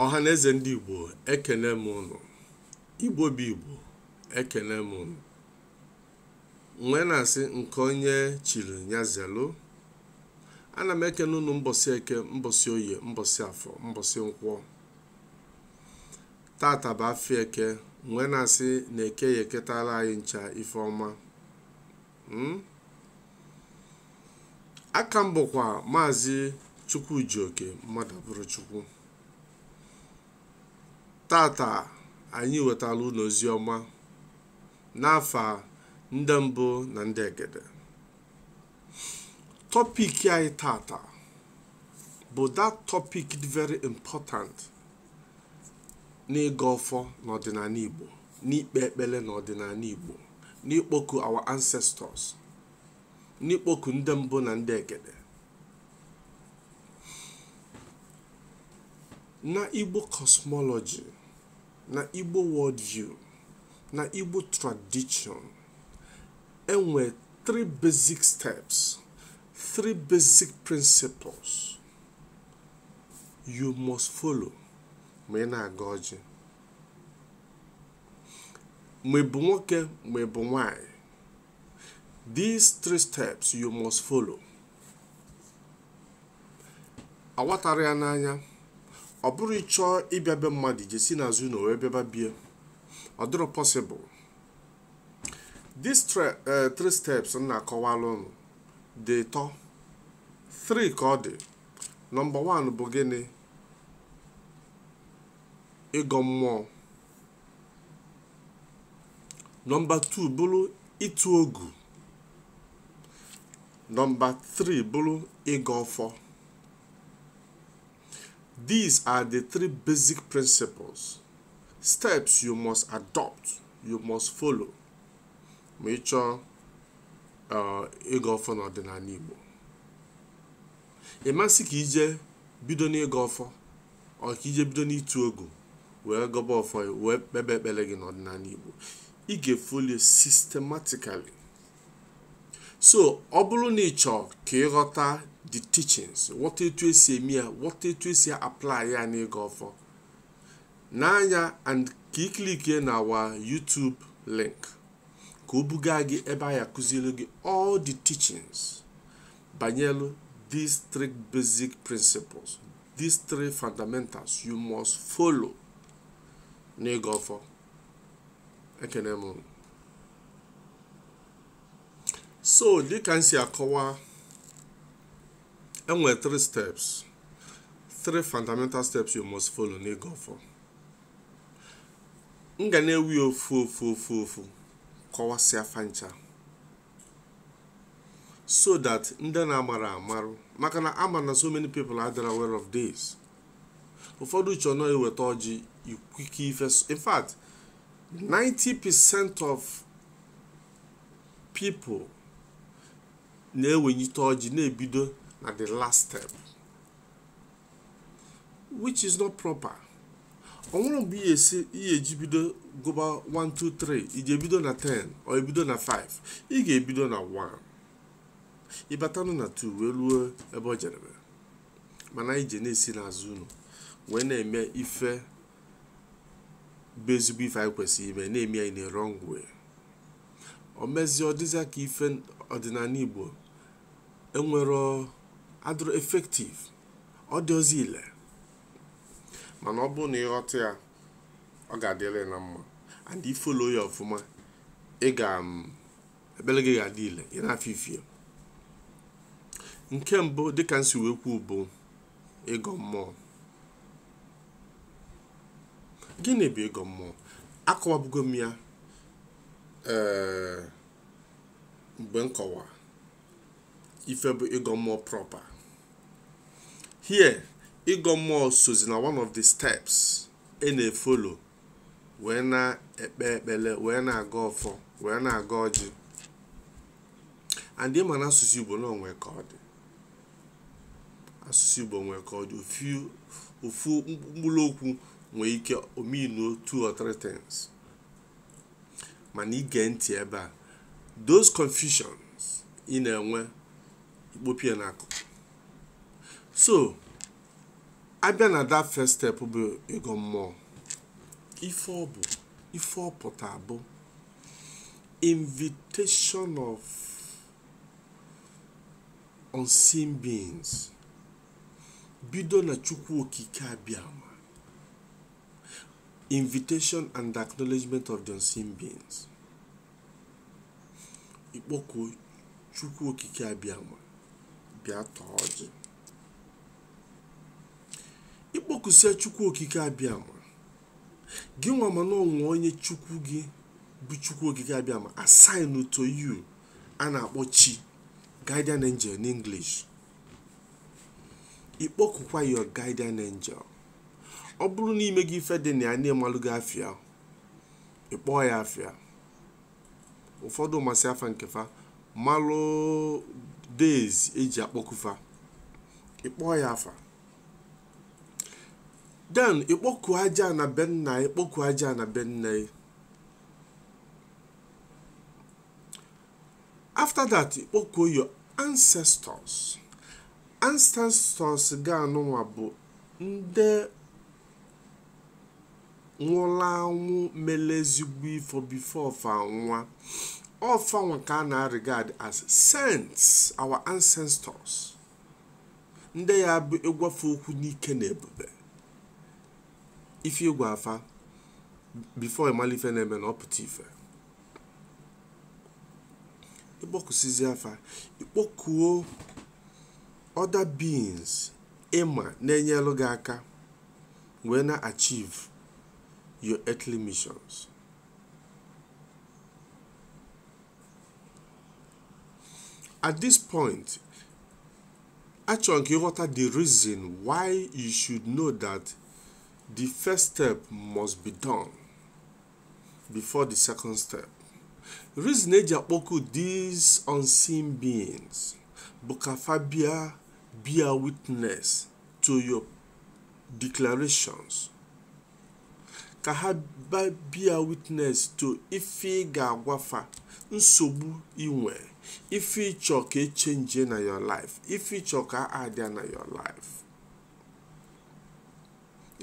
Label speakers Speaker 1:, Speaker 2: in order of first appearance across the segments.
Speaker 1: ọha na eze ndị igbo ekene m ụnụ igbo bụ igbo ekene m ụnụ m wee na-asị nke onye chiri ya zelu ana m ekene ụnụ mbọsị eke mbọsị oye mbọsị afọ mbọsị nkwọ tata bụ afịa eke m wee na-asị na eke ya-eketala anyị ncha ife ọma aka m bụkwa maazị chukwujioke mmadụabụrọchukwu tata anyị wetala ụnụ ozi ọma n'afa ndị mbụ na ndị egede topic anyị tata bụ that topic dị very important n'ịgọ ọfọ n'ọdịnanị igbo n'ikpe ekpele n'ọdịnanị Igbo n'ịkpọku our ancestors n'ịkpọku ndị mbụ na ndị egede na Igbo cosmology na Igbo worldview na Igbo tradition enwe three basic steps three basic principles you must follow ma ị na-agọ ọjị ma ị bụ nwoke ma ị bụ nwanyị these three steps you must follow awatarọ ya n'anya ọ bụrụ ị chọọ ịbịa be mmadụ je si n'azụ ụnọ wee bịaba bie ọ dịrọ possible these tre- eh, three steps m na-akọwala ụnụ dị ịtọ three ka ọ dị nọmba one bụ gịnị ịgọ mmụọ nọmba 2 bụrụ ịtụ ogu nọmba 3 bụrụ ịgọ ọfọ these are the three basic principles steps you must adopt you must follow ma ị chọọ uh, ịgọ ọfọ n'ọdịnanị Igbo ị ma-asị ka i je bido n'ịgọ ọfọ ọ ka i je bido n'ịtụ ogu wee gọba ọfọ wee kpebe ekpele gị n'ọdịnanị igbo ị ga-efollow ya systematically so ọ bụrụ na ị chọọ ka ị ghọta the teachings ghọta etu e si eme ya ghọta etu e si apply ya n'ịgọ ọfọ n'anya and ka ị clickie na our YouTube link ka o buga gị ebe a ya-akụzielu gị all the teachings banyelu these three basic principles these three fundamentals you must follow n'ịgọ ọfọ ekene m unu. so dịka m si akọwa enwere three steps three fundamental steps you must follow n'ịgọ ọfọ m ga na-ewe ya ofu ofu kọwasịa fa ncha so that ndị na-amarọ amarụ maka na ama m na so many people adịrọ aware of this ụfọdụ che na ọ eweta ọjị ikwike ife in fact 90% of people na-ewenyite ọjị na-ebido na the last step which is not proper o nwere mgbe ihe esi ihe eji bido gụba 1 2 3 i je ebido na 10 or ebido na 5 ị ga-ebido na 1 ị batanụ na 2 wee luo ebe o jedebe mana anyị je na-esi n'azụ ụnọ wee na-eme ife bụ ezigbo ife anyị kwesịrị ime na-eme ya na wrong way o mezie ọ dịzịa ka ife ọdịnanị igbo enwere adịrọ effective ọ dịrọzị ile mana ọ bụrụ na ị ghọta ya ọ ga-adịrị na mma and ị follow ya ọfụma ị ga mm, ekpele gị ga-adị ile ị na-afụ ifie nke mbụ dịka m si wee kwuo bụ ịgọ mmụọ gịnị bụ ịgọ mmụọ akọwabugo m ya ee eh, mgbe m kọwa ife bụ ịgọ mmụọ proper here ịgọ mmụọ sozi na one of the steps e na-efollow wee na-ekpe ekpele wee na-agọ ọfọ wee na-agọ ọjị and ị ma na asụsụ igbo na o nwe ka ọ dị asụsụ igbo nwee ka ọ dị ofu- ofu mkpụrụ okwu nwee ike o mean two or three things mana i gee ntị ebe a those confusions ị na-enwe i kpopụ ya n'akụkụ so a bịa na that first step bụ ịgọ mmụọ ife ọ bụ ife ọ pụta bụ invitation of unseen beings bido na chukwu okike abịama invitation and acknowledgement of the unseen beings ikpọku Chukwu Okike Abịama bịa taa ọjị ịkpọkusie Chukwu Okike Abịama gị nwa ma na o nwe onye Chukwu gị bụ Chukwu Okike Abịama assign to you a na-akpọ chi guardian angel in English ịkpọkukwa your guardian angel ọ bụrụ na i mego ife dị na ya na ị malugo afa ya ịkpọọ ya afa ya ụfọdụ masị afa nke fa malụ days eji akpọku fa ịkpọọ ya afa then ịkpọku aja ana be nna ya ịkpọku aja ana be nne ya after that ịkpọkuo your ancestors ancestors gị anụnwa bụ ndị nwụlụ anwụ melụ ezigbo ife before fa nwụọ ọ fanwa ka a na-regard as saints our ancestors ndị ya bụ ịgwa fa okwu n'ike na ebube ife ịgwa fa before ịmalụ ife na-eme na ọ pụta ife ịkpọkusizia fa ịkpọkuo other beings ịma na-enyelụ gị aka wee na-achieve your earthly missions at this point achọrọ m ka ịghọta the reason why you should know that the first step must be done before the second step reason eji akpọku these unseen beings bụ ka fa bịa bear witness to your declarations ka ha bịa bear witness to ife ị ga-agwa fa nsogbu inwe ife ịchọ ka e change na your life ife ịchọ ka a addịa na your life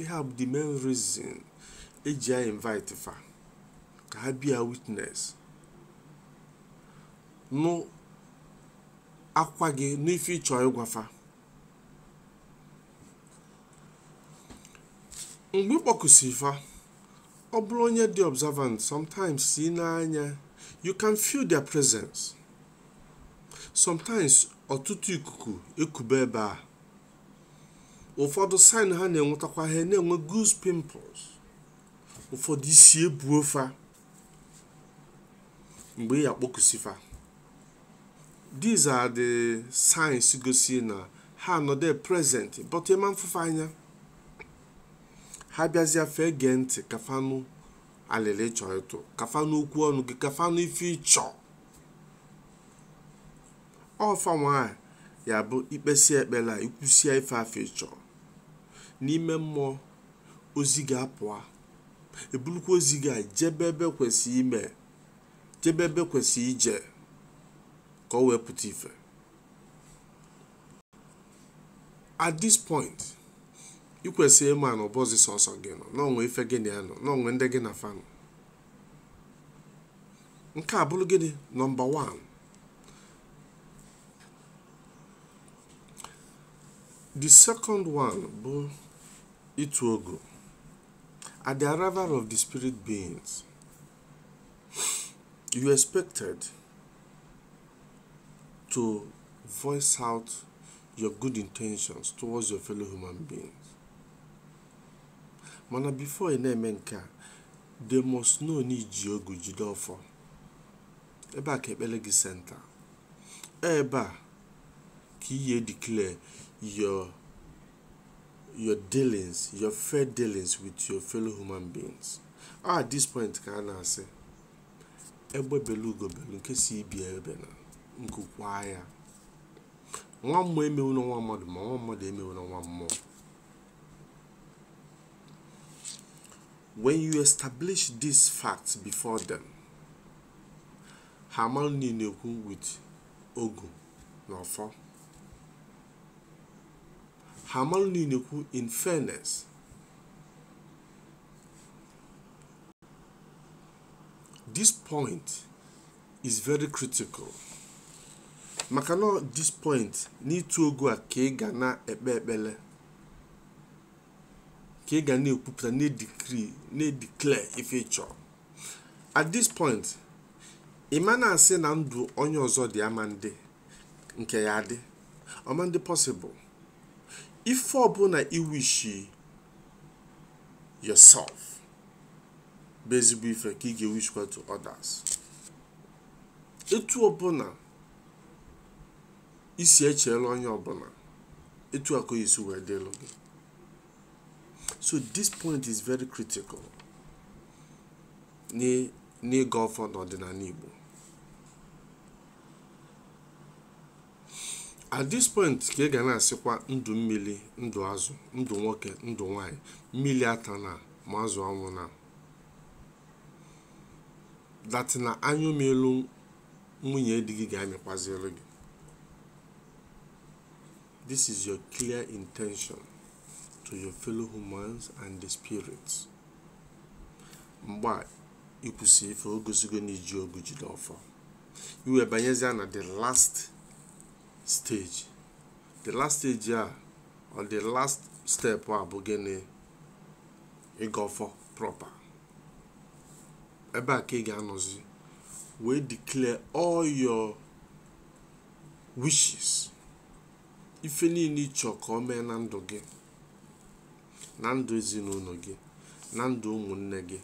Speaker 1: ihe a bụ the main reason eji a-invite fa ka ha bear witness nụ akwa gị na ife ịchọ ịgwa fa mgbe ịkpọkusị fa ọ bụrụ onye dị observant sometimes si n'anya you can feel their presence sometimes ọtụtụ ikuku ekube ebe a ụfọdụ sign ha na-enwetakwa ha na-enwe goose pimples ụfọdụ isi ebuo fa mgbe ị ya-akpọkusi fa these are the signs gosi na ha anọdụ present but ị ma mfụ fa anya ha bịazịa fa egee ntị ka fa nụ alịlị ị chọọ ịtụ ka fa nụ okwu ọnụ gị ka fa nụ ife ị chọ ọ fa nwa ya-abụ i kpesie ekpele a i kwusia ife afụ ị chọ n'ime mmụọ ozi ga-apụa ebulukwa ozi gị a jebe ebe kwesịrị ime jebe ebe kwesịrị ije ka o wee pụta ife at this point ị kwesịrị ịma na ọ bọzị sọsọ gị nọ na o nwe ife gị na ya nọ na o nwe ndị gị na fa nọ nke a bụrụ gịnị number 1 the second one bụ ịtụ ogu at the arrival of the spirit beings you expected to voice out your good intentions towards your fellow human beings mana before ị na-eme nke a they must know na i ji ogu jide ọfọ ebe a ka ekpele gị center ebe a ka ị ya-declare your your dealings your fair dealings with your fellow human beings ah, at this point ka a na-asị egbe belu ugo belu nke sị ibe ebena nku kwaa ya nwa mmụọ emewuna nwa mmadụ ma nwa mmadụ emewuna nwa mmụọ when you establish these facts before them ha amalụ na ị na-ekwu with ogu na ọfọ ha amalụ na ị na-ekwu in fairness this point is very critical maka na this point n'ịtụ ogu a ka ị ga na-ekpe ekpele ka ị ga na-ekwupụta na-edecree na-edeclare ife ị chọrọ at this point ị ma na-asị na ndụ onye ọzọ dị ama ndị nke ya dị ọ ma ndị possible ife ọbụla i wishi yourself bụ ezigbo ife ka ị ga-ewishkwa to others etu ọbụla i si echeele onye ọbụla etu a ka ọ ya-esi wee dịlụ gị so this point is very critical n'ị- n'ịgọ ọfọ n'ọdịnala Igbo at this point ka ị ga na-asịkwa ndụ mmili ndụ azụ ndụ nwoke ndụ nwanyị mmili atana ma azụ anwụna that na anyụ mịlụ nwunye di gị ga-amịkwazielu gị this is your clear intention to your fellow humans and the spirits mgbe a i kwusị ife o gosigo na i ji ogu jide ọfọ i wee banyezia na the last stage the last stage a or the last step a bụ gịnị ịgọ ọfọ proper ebe a ka ị ga-anọzi wee declare all your wishes ife niile ị chọ ka o mee na ndụ gị na ndụ ezinụnọ gị na ndụ ụmụnne gị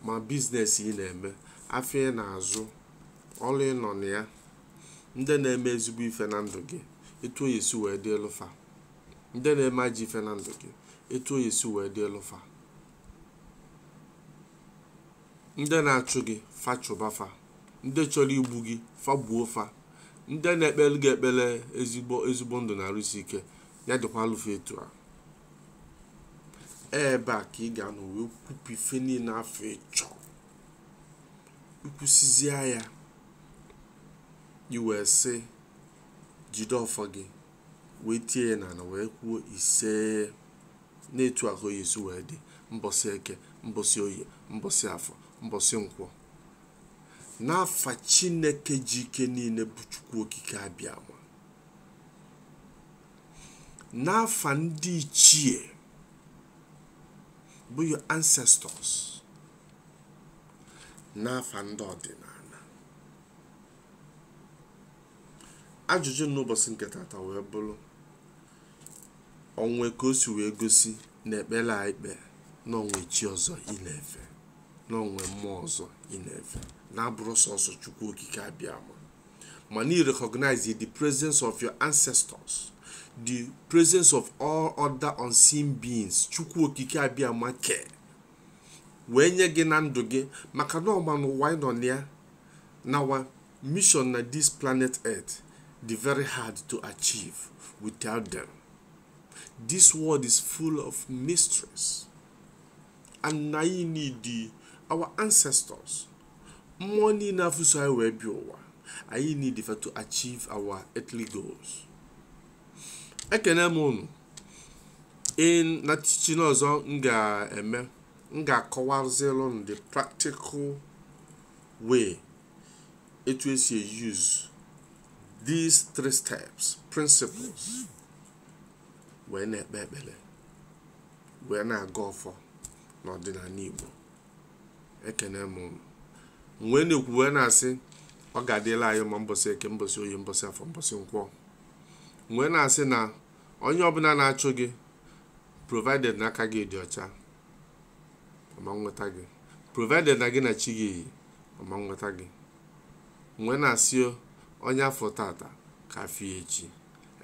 Speaker 1: ma biznes ị na-eme afịa ị na-azụ ọrụ ị nọ na ya ndị na-eme ezigbo ife na ndụ gị etu ọ ya-esi wee dịlụ fa ndị na-eme ajọ ife na ndụ gị etu ọ ya-esi wee dịlụ fa ndị na-achụ gị fa chụba fa ndị chọrọ igbu gị fa gbuo fa ndị na-ekpele gị ekpele ezigbo ndụ na arụ isi ike ya dịkwalụ fa etu a ebe a ka ị ga-anọ wee kwupụ ife niile afụ ị chọ i kwusizie ya i wee si jide ọfọ gị wee tie ya n'ana wee kwuo isee na etu a ka ọ ya-esi wee dị mbọsị eke mbọsị oye mbọsị afọ mbọsị nkwọ n'afa chineke ji ike niile bụ chukwu okike abịama n'afa ndị ichie bụ your ancestors n'afa ndị ọdịnana ajụjụ n'ụbọsị nke tata wee bụlụ o nwe ka o si wee gosi na ekpele a i kpe na o nwe chi ọzọ ị na-efe na o nwe mmụọ ọzọ ị na-efe na-abụrọ sọsọ chukwu okike abịama mana ị recognize the presence of your ancestors the presence of all other unseen beings chukwu okike abịama kee wee nye gị na ndụ gị maka na ọ ma na ụwa ị nọ na ya na our mission na this planet earth dị very hard to achieve without them this world is full of mysteries and na ị need our ancestors mmụọ niile afụ so anyị wee bịa ụwa anyị need fa to achieve our earthly goals ekene m unu na teaching ọzọ m ga-eme m ga-akọwazilụ unu the practical way etu esi use these three steps principles wee na-ekpe ekpele wee na-agọ ọfọ n'ọdịnala Igbo ekene m unu m wee na-ekwu wee na-asị ọ ga-adịlị anyị mma mbọsị eke mbọsị oye mbọsị afọ mbọsị nkwọ m wee na-asị na onye ọbụla na-achụ gị provided na aka gị dị ọcha ọ ma nweta gị provided na gị na chi gị yi ọ ma nweta gị m wee na-asị onye a fụ tata ka a fụ ya echi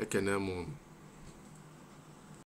Speaker 1: ekene m unu